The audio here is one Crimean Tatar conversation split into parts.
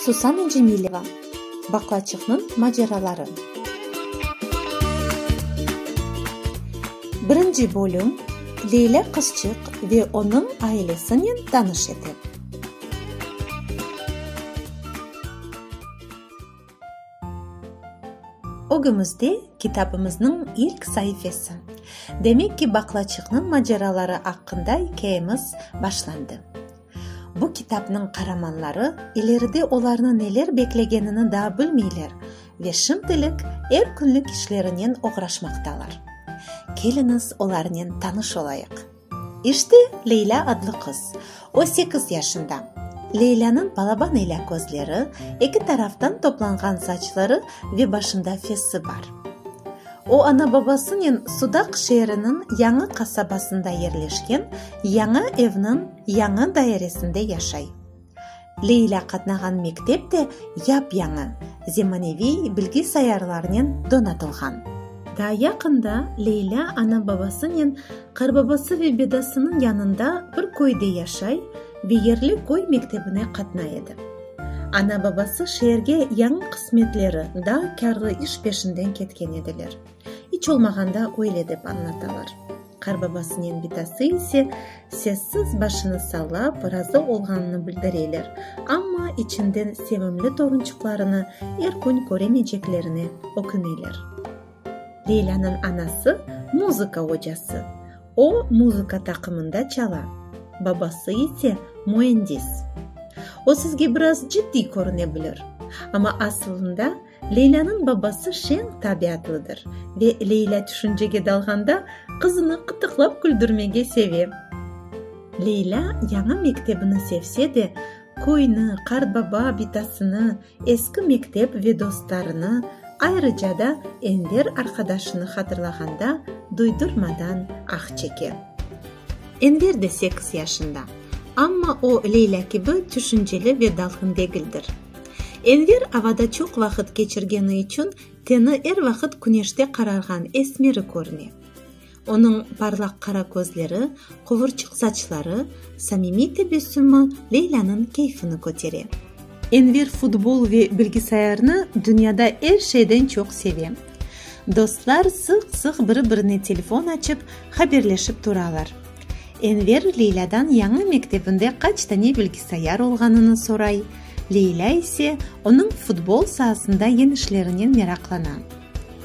Susana Cemileva, Baqlaçıqnıñ maceraları. Birinci bölüm, Leylâ qızçıq ve onıñ ailesinen tanış ete. Ögümizde kitabımıznıñ ilk saifesi. Demek ki, baqlaçıqnıñ maceraları aqqında ikâyemiz başlandı. Bu kitabnıñ qaramanları ileride olarnı neler beklegenini daa bilmeyler ve şimdilik er künlik işlerinen oğraşmaqtalar. Keliñiz, olarnen tanış olayıq. İşte Leylâ adlı qız. O sekiz yaşında. Leylânıñ balaban ile közleri, eki taraftan toplanğan saçları ve başında fesi bar. O ana-babasınen Sudaq şeeriniñ yañı qasabasında yerleşken yañı evniñ yañı dairesinde yaşay. Leylâ qatnağan mektep de yap-yañı, zemaneviy bilgi sayarlarınen donatılğan. Daa yaqında Leylâ ana-babasınen Qarbabası ve Bedasınıñ yanında bir köyde yaşay ve yerli köy mektebine qatnay edi. Ana-babası şeerge yañı qısmetleri, daa kârlı iş peşinden ketken ediler. İç olmağanda öyle dep añlatalar. Qarbabasınen bitası ise sessiz başını sallap, razı olğanını bildireler, amma içinden sevimli torunçıqlarını er kün köremeyceklerine öküneler. Leylânıñ anası muzıka ocası. O, muzıka taqımında çala. Babası ise müendis. O sizge biraz ciddiy körüne bilir, amma aslında, Leylânıñ babası şeñ tabiatlıdır ve Leylâ tüşüncege dalğanda qızını qıtıqlap küldürmege seve. Leylâ yañı mektebini sevse de, köyni, qartbaba bitasını, eski mektep ve dostlarını, ayrıca da Enver arqadaşını hatırlağanda duydurmadan ah çeke. Enver de sekiz yaşında. Amma o Leylâ kibi tüşünceli ve dalğın degildir. Enver avada çoq vaqıt keçirgeni içün teni er vaqıt küneşte qararğan esmeri körüne. Onıñ parlaq qara közleri, quvurçıq saçları, samimiy tebessümi Leylânıñ keyfini kötere. Enver futbol ve bilgisayarnı dünyada er şeyden çoq seve. Dostlar sıq-sıq biri-birine telefon açıp, haberleşip turalar. Enver Leylâdan yañı mektebinde qaç tane bilgisayar olğanını soray, Leylâ ise onıñ futbol saasında yeñişlerinen meraqlana.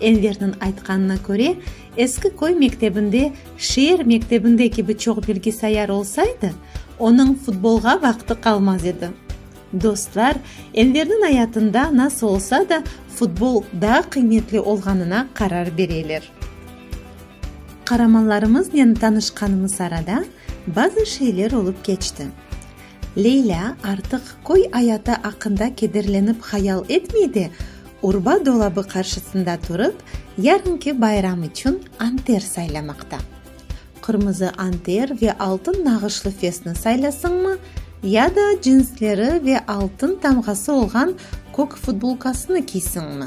Enverniñ aytqanına köre, eski köy mektebinde şeer mektebinde kibi çoq bilgisayar olsaydı, onıñ futbolğa vaqtı qalmaz edi. Dostlar, Enverniñ ayatında nasıl olsa da futbol daa qıymetli olğanına qarar bereler. Qaramanlarımıznen tanışqanımız arada bazı şeyler olıp keçti. Leylâ artıq köy ayatı aqqında kederlenip hayal etmey de, urba dolabı qarşısında turıp, yarınki bayram içün anter saylamaqta. Qırmızı anter ve altın nağışlı fesni saylasıñmı, ya da cinsleri ve altın tamğası olğan kök futbolkasını kiysiñmi?